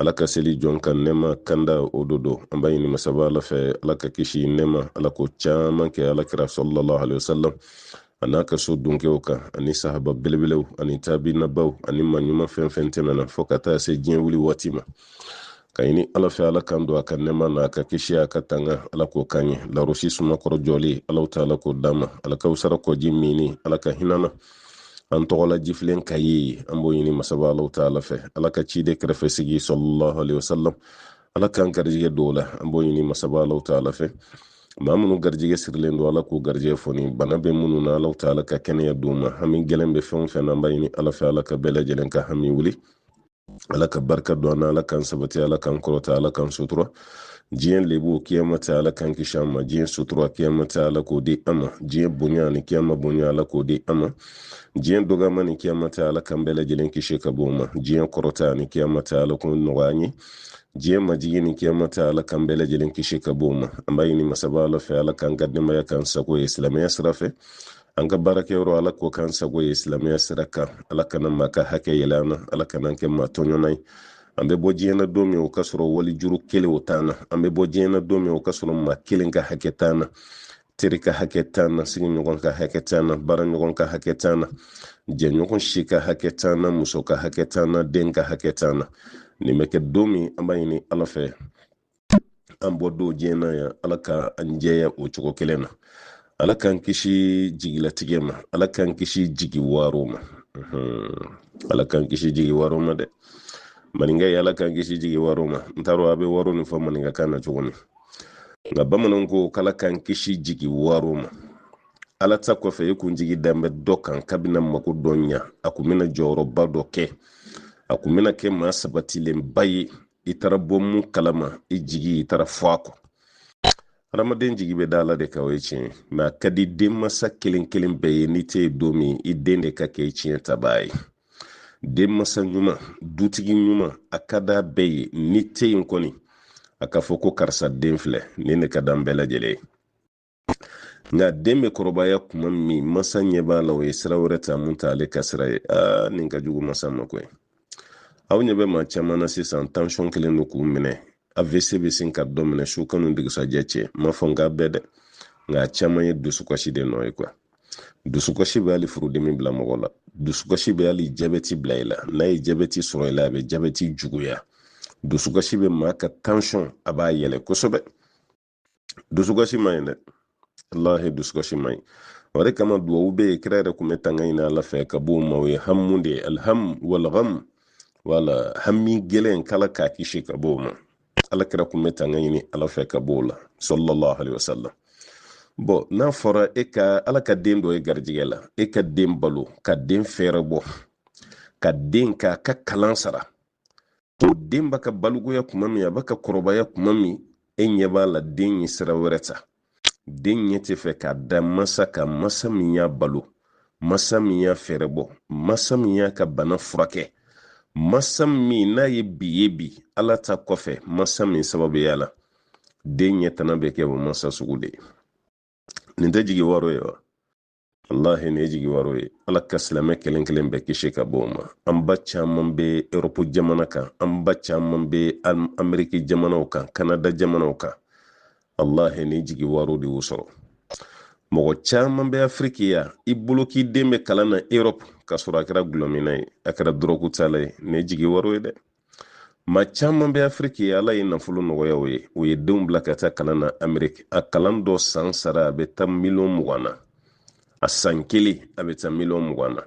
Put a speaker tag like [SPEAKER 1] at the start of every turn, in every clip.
[SPEAKER 1] ala ka seli jɔn ka nɛma kanda o do do an b'a ɲini masaba ala fɛ ala ka kisi nɛma ala k'o caman kɛ ala kira salalahu alayhi wa sallam a n'a ka so dunkew kan ani sahaba belebelew ani taabinabaw ani maa ɲuman fɛn o fɛn tɛmɛna fɔɔ ka taa se diɲɛ wuli waati ma k'a ɲini ala fɛ ala k'an don a ka nɛma na a ka kisi a ka tanga ala k'o k'an ye larosi suma kɔrɔ jɔlen alahu taala k'o d'an ma alakawusara kɔji minni ala ka hina an na an tɔgɔla jifilen ka ye an b'o ɲini masaba alahu taala fɛ ala ka ciden kɛrɛfɛ sigi salalahu alayhi wasalam ala k'an garijigɛ d'o la an b'o ɲini masaba alahu taala fɛ maa minnu garijigɛ sirilen don ala k'u garijigɛ foni bana bɛ minnu na alahu taala ka kɛnɛya d'u ma hami gɛlɛn bɛ fɛn o fɛn na an b'a ɲini ala fɛ ala ka bɛɛ lajɛlen ka hami wuli ala ka barika don an na ala k'an sabati ala k'an kɔrɔta ala k'an sutura diɲɛ lebu kiyama ta ala k'an kisi a ma diɲɛ sutura kiyama ta ala k'o di an ma diɲɛ bonya ani kiyama bonya ala k'o di an ma diɲɛ dɔgɔyama ni kiyama ta ala k'an bɛɛ lajɛlen kisi ka bɔ o ma diɲɛ kɔrɔta ani kiyama ta ala k'o nɔgɔya an ye diɲɛ majigin ni kiyama ta ala k'an bɛɛ lajɛlen kisi ka bɔ o ma an b'a ɲini masaba ala fɛ ala k'an ka denbaya k'an sago ye silamɛya sira fɛ an ka baarakɛyɔrɔ ala k'o k'an sago ye silamɛya sira kan ala kana maa ka hakɛ yɛlɛ an na ala kan'an kɛ maa tɔɲɔnna ye an bɛ bɔ diɲɛ na don min o k'a sɔrɔ wali juru kelen o t'an na an bɛ bɔ diɲɛ na don min o k'a sɔrɔ maa kelen ka hakɛ t'an na teri ka hakɛ t'an na sigiɲɔgɔn ka hakɛ t'an na baaraɲɔgɔn ka hakɛ t'an na jɛɲɔgɔn si ka hakɛ t'an na muso ka hakɛ t'an na den ka hakɛ t'an na nin bɛ kɛ don min an b'a ɲini ala fɛ an bɔ don diɲɛ na yan ala ka an jɛya o cogo kelen na ala k'an kisi jigilatigɛ ma ala k'an kisi jigi waro ma ala k'an kisi jigi waro ma dɛ maninka ye ala k'an kisi jigi waro ma n t'a dɔn a bɛ waro nin fɔ maninkakan na cogo min nka bamananw ko k'ala k'an kisi jigi waro ma ala ta kɔfɛ e kun jigi dan bɛ dɔ kan k'a bɛna mako dɔ ɲa a kun bɛna jɔyɔrɔba dɔ kɛ a kun bɛna kɛ maa sabatilenba ye i taara bɔ mun kalama i jigi i taara fɔ a kɔ hadamaden jigi bɛ da ala de kan o ye tiɲɛ mɛ a ka di denmansa kelen kelen bɛɛ ye n'i tɛ yen don min i den de ka kɛ i tiɲɛtabaa ye denmansa ɲuman dutigi ɲuman a ka d'a bɛɛ ye n'i tɛ yen kɔni a ka fɔ ko karisa den filɛ nin de ka d'an bɛɛ lajɛlen ye nka den bɛ kɔrɔbaya kuma min masa ɲɛ b'a la o ye sira wɛrɛ ta mun t'ale ka sira ye aa nin ka jugu masa ma koyi aw ɲɛ bɛ maa caman na sisan tansɔn kɛlen don k'u minɛ avc bɛ sin ka dɔ minɛ su kanu dugusajɛ cɛ n m'a fɔ n k'a bɛɛ dɛ nka a caman ye dusukasi de nɔ ye kuwa dusukasi bɛ hali furudimi bila mɔgɔ la dusukasi bɛ hali jabɛti bila i la n'a ye jabɛti sɔrɔ i la a bɛ jabɛti juguya dusukasi bɛ maa ka tansɔn a b'a yɛlɛ kosɛbɛ dusukasi man ɲi dɛ walahi dusukasi man ɲi o de kama duwawu bɛ yen kira yɛrɛ kun bɛ tanga ɲini ala fɛ ka b'o ma o ye hamu de ye alhamu walgamu wala hami gɛlɛn k'ala k'a kisi ka b'o ma ala kira kun bɛ tanga ɲini ala fɛ ka b'o la sallallahu alaihi wasallam bɔn n'a fɔra e ka ala ka den don i garijɛgɛ la e ka den balo ka den fɛɛrɛbɔ ka den ka ka kalan sara o den b'a ka balikuya kuma min a b'a ka kɔrɔbaya kuma min e ɲɛ b'a la den ye sira wɛrɛ ta den ɲɛ tɛ fɛ ka da masa kan masa min y'a balo masa min y'a fɛɛrɛbɔ masa min y'a ka bana furakɛ masa min n'a ye bi ye bi ala ta kɔfɛ masa min sababuya la den ɲɛ tana bɛ kɛ o masa sugu de ye nin tɛ jigi waro ye wa walahi nin ye jigi waro ye ala ka silamɛ kelen kelen bɛɛ kisi ka bɔ o ma an ba caman bɛ erɔpu jamana kan an ba caman bɛ ameriki jamanaw kan kanada jamanaw kan walahi nin jigi waro de y'u sɔrɔ mɔgɔ caman bɛ afiriki yan i bolo k'i den bɛ kalan na erɔpu k'a sɔrɔ a kɛra gulɔminna ye a kɛra dɔrɔku tala ye nin ye jigi waro ye dɛ ma caman bɛ afiriki yan ala ye nafolo nɔgɔya u ye u ye denw bila ka taa kalan na ameriki a kalan dɔ san sara a bɛ taa miliyɔn mugan na a san kelen a bɛ taa miliyɔn mugan na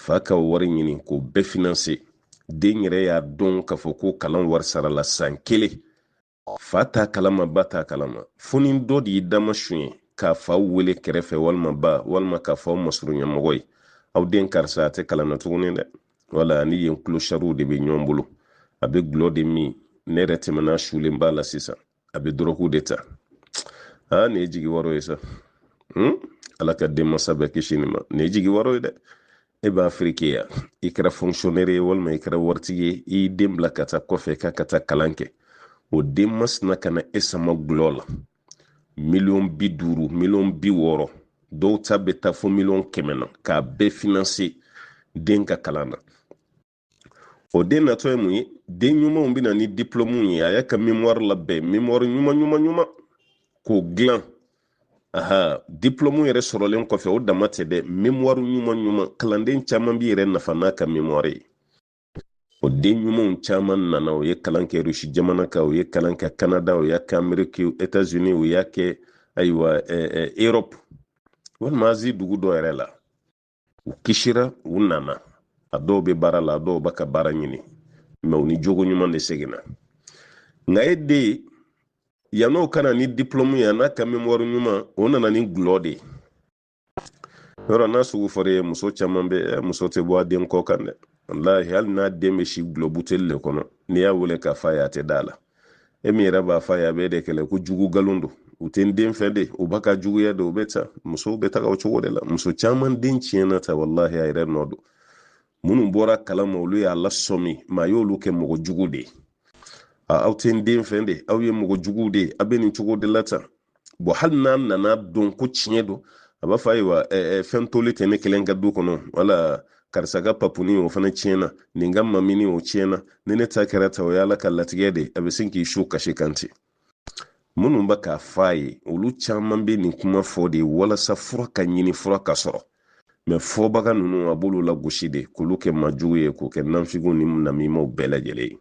[SPEAKER 1] fa ka wari ɲini k'o bɛɛ finanse den yɛrɛ y'a dɔn k'a fɔ ko kalan wari sarala san kelen fa t'a kalama ba t'a kalama fo ni dɔ de y'i dama suɲɛ k'a fa wele kɛrɛfɛ walima ba walima k'a fɔ u masurunyamɔgɔ ye aw den karisa a tɛ kalan na tuguni dɛ wala ni yen kulosariw de bɛ ɲɔgɔn bolo a bɛ gulɔ de min ne yɛrɛ tɛmɛna sulen b'a la sisan a bɛ dɔrɔku de ta aa nin ye jigi waro ye sa hmm? ala ka denmasa bɛɛ kisi nin ma nin ye jigi waro ye dɛ e bɛ afiriki yan i kɛra fonkisiyonɛri ye walima i kɛra waritigi ye i y'i den bila ka taa kɔfɛ k'a ka taa kalan kɛ o den masina ka na e sama gulɔ la miliyɔn bi duuru miliyɔn bi wɔɔrɔ dɔw ta bɛ taa fo miliyɔn kɛmɛ na k'a bɛɛ finanse den ka kalan na o den natɔ ye mun ye den ɲumanw bɛ na ni diplɔmuw ye a y'a ka memɔri labɛn memɔri ɲuman ɲuman ɲuman k'o dilan aha diplɔmu yɛrɛ sɔrɔlen kɔfɛ o dama tɛ dɛ memɔri ɲuman ɲuman kalanden caman b'i yɛrɛ nafa n'a ka memɔri ye o den ɲumanw caman nana u ye kalan kɛ rusi jamana kan u ye kalan kɛ kanada u y'a kɛ ameriki etats unis u y'a kɛ ayiwa europe walima azi dugu dɔ yɛrɛ la u kisira u nana a dɔw bɛ baara la a dɔw bɛ ka baara ɲini mɛ u ni jogo ɲuman de seginna nka e den yann'o ka na ni diplɔmu ye n'a ka memɔri ɲuman o nana ni gulɔ de ye yɔrɔ n'a sugu fɔra ye muso caman bɛ eh, muso tɛ bɔ a den kɔ kan dɛ walahi hali n'a den bɛ si gulɔ buteli de kɔnɔ n'i y'a wele k'a fɔ a ye a tɛ da la e min yɛrɛ b'a f'a ye a bɛ de kɛlɛ ko jugu nkalon don u tɛ n den fɛ de u ba ka juguya de u bɛ ta musow bɛ taga o cogo de la muso caman den tiɲɛna tan walahi a yɛrɛ nɔ don minnu bɔra kalama olu y'a lasɔmi maa y'olu kɛ mɔgɔ jugu de ye aw tɛ n den fɛ de aw ye mɔgɔ juguw de ye aw bɛ nin cogo de la tan bɔn hali n'a nana dɔn ko tiɲɛ don a b'a fɔ ayiwa fɛn toli tɛ ne kelen ka du kɔnɔ wala karisa ka papuni o fana tiɲɛna nin ka mamini o tiɲɛna ni ne ta kɛra tan o ye ala ka latigɛ de a bɛ sin k'i su kasi kan ten minnu bɛ k'a fɔ a ye olu caman bɛ nin kuma fɔ de walasa fura ka ɲini fura ka sɔrɔ mɛ fɔbaga ninnu a b'olu lagosi de k'olu kɛ majugu ye k'u kɛ nanfigiw ni namimaw bɛɛ lajɛlen ye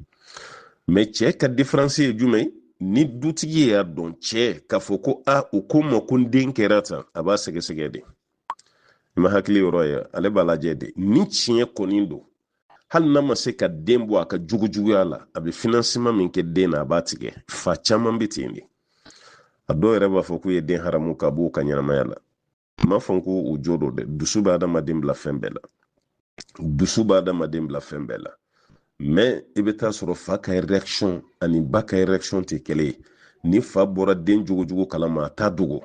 [SPEAKER 1] mɛ cɛ ka diferansi ye jumɛn ni dutigi y'a dɔn cɛ k'a fɔ ko a u ko n ma ko n den kɛra tan a b'a sɛgɛsɛgɛ de i ma hakili yɔrɔ ye ale b'a lajɛ de ni tiɲɛ kɔni don hali n'a ma se ka den bɔ a ka jugujuguya la a bɛ finansiman min kɛ den na a b'a tigɛ fa caman bɛ ten de a dɔw yɛrɛ b'a fɔ k'u ye den haramu ka b'u ka ɲɛnamaya la n m'a fɔ n ko u jo don dɛ dusu bɛ adamaden bila fɛn bɛɛ la dusu bɛ adamaden bila fɛn bɛɛ la mɛ i bɛ taa sɔrɔ fa ka réaction ani ba ka réaction tɛ kelen ye ni fa bɔra den jogojugu kalama a t'a dogo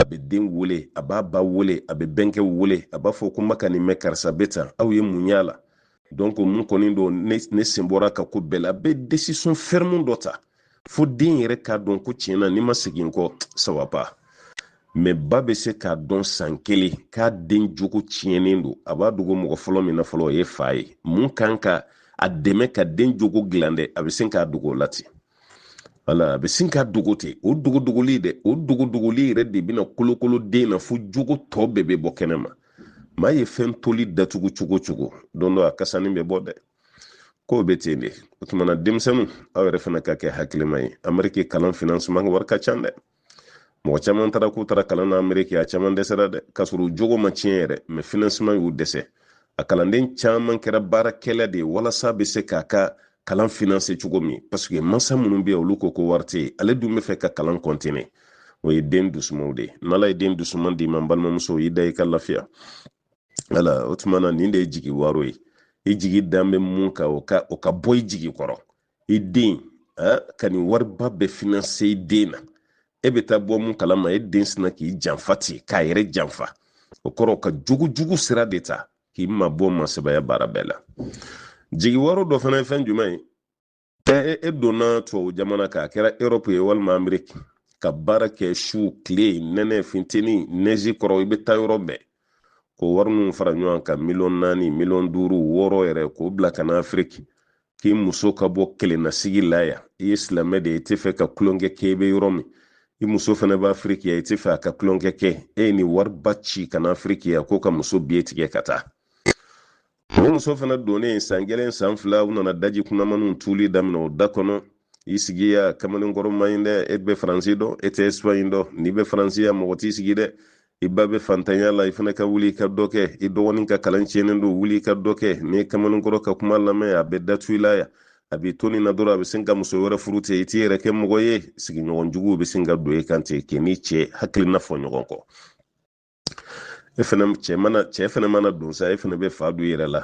[SPEAKER 1] a bɛ den wele a b'a ba wele a bɛ bɛnkɛ wele a b'a fɔ ko n bɛ ka nin mɛn karisa bɛ tan aw ye mun y'a la donc mun kɔni don ne sen bɔr'a ka ko bɛɛ la a bɛ desizɔn fɛrɛmu dɔ ta fo den yɛrɛ k'a dɔn ko tiɲɛ na n'i ma segin kɔ ça va pas mɛ ba bɛ se k'a dɔn san kelen k'a den jogo tiɲɛnen don a b'a dogo mɔgɔ fɔlɔ min na fɔlɔ o ye fa ye min kan ka a dɛmɛ ka den jogo dilan dɛ a bɛ se k'a dogo o la ten wala a bɛ sin k'a dogo ten o dogodogoli dɛ o dogodogoli yɛrɛ de bɛna kolokolo den na fo jogo tɔ bɛɛ bɛ bɔ kɛnɛ ma maa ye fɛn toli datugu cogo o cogo don dɔ a kasani bɛ bɔ dɛ k'o bɛ ten de o tumana denmisɛnninw aw yɛrɛ fana ka kɛ hakilima ye ameriki kalan finansiman wari ka ca dɛ mɔgɔ caman taara k'u taara kalan na ameriki a caman dɛsɛra dɛ k'a sɔrɔ u jogo ma tiɲɛ yɛrɛ mɛ finansiman y'u dɛsɛ a kalanden caman kɛra baarakɛla de ye walasa a bɛ se k'a ka kalan finanse cogo min paseke mansa minnu bɛ yen olu ko ko wari tɛ yen ale dun bɛ fɛ ka kalan kɔntine o ye den dusumanw de ye n'ala ye den dusuman d'i ma n balimamuso i da i ka lafiya wala o tuma na nin de ye jigi waro ye i jigi dan bɛ min kan o ka o ka bɔ i jigi kɔrɔ i den ka nin wariba bɛɛ finanse i den na e bɛ taa bɔ mun kalama e den sina k'i janfa ten k'a yɛrɛ janfa o kɔrɔ ka jugujugu sira de ta k'i mabɔ masabaya baara bɛɛ la jigi waro dɔ fana ye fɛn jumɛn ye e, e donna tubabu jamana kan a kɛra erɔpu ye walima ameriki ka baara kɛ su tile nɛnɛ funteni nɛzi kɔrɔ i bɛ taa yɔrɔ bɛɛ k'o wari ninnu fara ɲɔgɔn kan miliyɔn naani miliyɔn duuru wɔɔrɔ yɛrɛ k'o bila ka na afiriki k'i muso ka bɔ kelennasigi la yan i ye silamɛ de ye i tɛ fɛ ka tulonkɛ kɛ i bɛ yɔrɔ min i muso fana bɛ afiriki yan i tɛ fɛ a ka tulonkɛ kɛ e ye nin wariba ci ka na afiriki yan ko ka muso biye tigɛ ka taa o muso fana donnen san kelen san fila u nana daji kunamaninw tuli daminɛ o da kɔnɔ i sigi yan kamalen kɔrɔ man ɲi dɛ e bɛ faransi dɔn e tɛ espagne dɔn n'i bɛ faransi yan mɔgɔ t'i sigi dɛ i ba bɛ fantanya la i fana ka wuli i ka dɔ kɛ i dɔgɔnin ka kalan tiɲɛnen don wuli i ka dɔ kɛ n'i ye kamalen kɔrɔ ka kuma lamɛn a bɛ datugu i la yan a b'i to nin na dɔrɔn a bɛ sin ka muso wɛrɛ furu ten i t'i yɛrɛ kɛ mɔgɔ ye sigiɲɔgɔn juguw bɛ sin ka don e kan ten k'i ni cɛ hakilina fɔ ɲɔgɔn kɔ e fana cɛ mana cɛ fana mana don sa e fana bɛ fa don i yɛrɛ la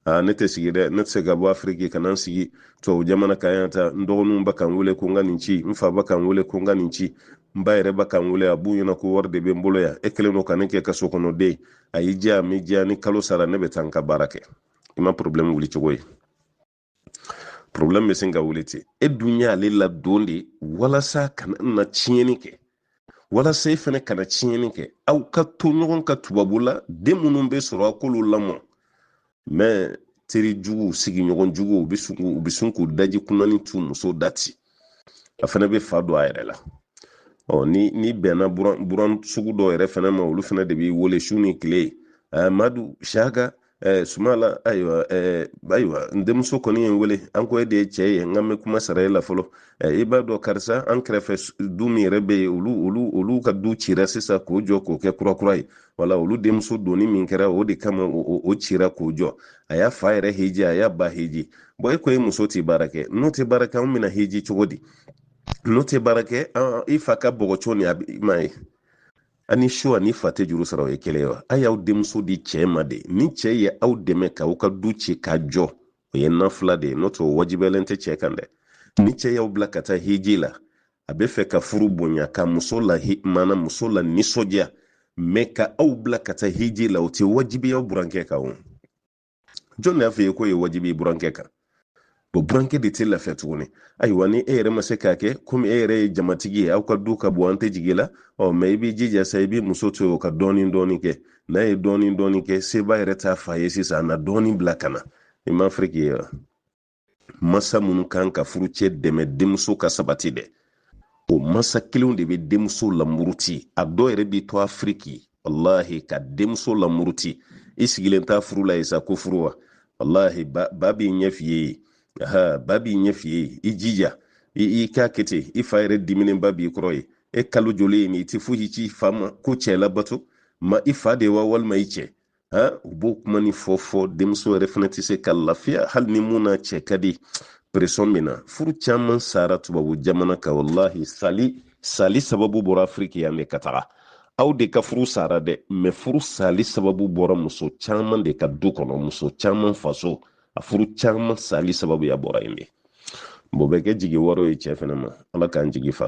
[SPEAKER 1] aa ne tɛ sigi dɛ ne tɛ se ka bɔ afiriki ka na n sigi tubabu jamana kan yan tan n dɔgɔninw bɛ ka n wele ko n ka nin ci n fa bɛ ka n wele ko n ka nin ci n ba yɛrɛ bɛ ka n wele a b'u ɲɛna ko wari de bɛ n bolo yan e kɛlen don ka ne kɛ ka so kɔnɔ den a y'i diya a m'i diya ni kalo sara ne bɛ taa n ka baara kɛ i ma porobilɛmu wuli cogo ye problem bɛ sin ka wuli ten e dun y'ale ladon de walasa kana na tiɲɛni kɛ walasa e fana kana tiɲɛni kɛ aw ka to ɲɔgɔn kan tubabu la den minnu bɛ sɔrɔ a k'olu lamɔ mɛ teri juguw sigiɲɔgɔn juguw u bɛ sin k'u- u bɛ sin k'u daji kunanin tu muso da ten a fana bɛ fa don a yɛrɛ la ɔ n'i n'i bɛnna buran buran sugu dɔw yɛrɛ fana ma olu fana de b'i wele su ni tile ɛɛ madu shaka ɛɛ sumayila ayiwa ɛɛ ayiwa n denmuso kɔni ye n wele an ko e de ye cɛ ye n ka nin kuma sara e la fɔlɔ i b'a dɔn karisa an kɛrɛfɛ du min yɛrɛ bɛ yen olu olu olu ka du cira sisan k'o jɔ k'o kɛ kurakura ye wala olu denmuso donni min kɛra o de kama o cira k'o jɔ a y'a fa yɛrɛ hiji a y'a ba hiji bɔn e ko e muso tɛ baara kɛ n'o tɛ baara kɛ an bɛna hiji cogo di n'o tɛ baara kɛ i fa ka bɔgɔso nin a ma ye a ni su ani fa tɛ juru sara o ye kelen wa a y'aw denmuso di cɛ ma de ni cɛ ye aw dɛmɛ k'aw ka du ci ka jɔ o ye nafila de ye n'o tɛ o wajibiyalen tɛ cɛ kan dɛ ni cɛ y'aw bila ka taa hiji la a bɛ fɛ ka furu bonya ka muso la mm muso lanisɔndiya mɛ ka aw bila ka taa hiji la o tɛ wajibiya burankɛ kan o jɔn de y'a f'i ye k'o ye wajibi ye burankɛ kan o burankɛ de tɛ lafiya tuguni ayiwa ni e yɛrɛ ma se k'a kɛ komi e yɛrɛ ye jamatigi ye aw ka du ka bon an tɛ jigi la ɔ mɛ i b'i jija sa i b'i muso to yen o ka dɔɔnin dɔɔnin kɛ n'a ye dɔɔnin dɔɔnin kɛ seba yɛrɛ t'a fa ye sisan a na dɔɔnin bila ka na i ma afiriki ayiwa masa minnu kan ka furucɛ dɛmɛ denmuso ka sabati dɛ o masa kelenw de bɛ denmuso lamuruti a dɔw yɛrɛ b'i to afiriki walahi ka denmuso lamuruti i sigilen to furu la yen sa ko furu wa walahi ba, ba b'a ɲɛf'i ye aha ba b'a ɲɛf'i ye i jija i i k'a kɛ ten i fa yɛrɛ diminenba b'i kɔrɔ yen e kalo joli ye nin i tɛ foyi ci i fa ma ko cɛ labato ma i fa de wa walima i cɛ u b'o kuma nin fɔ fɔ denmuso yɛrɛ fana tɛ se ka lafiya hali ni mun n'a cɛ ka di presɔn min na furu caman sara tubabu jamana kan walahi sali sali sababu bɔra afiriki yan de ka taga aw de ka furu sara dɛ mɛ furu sali sababu bɔra muso caman de ka du kɔnɔ muso caman faso a furu caman sali sababuya bɔra yen de o bɛ kɛ jigiwaaro ye cɛ fana ma ala k'an jigi fa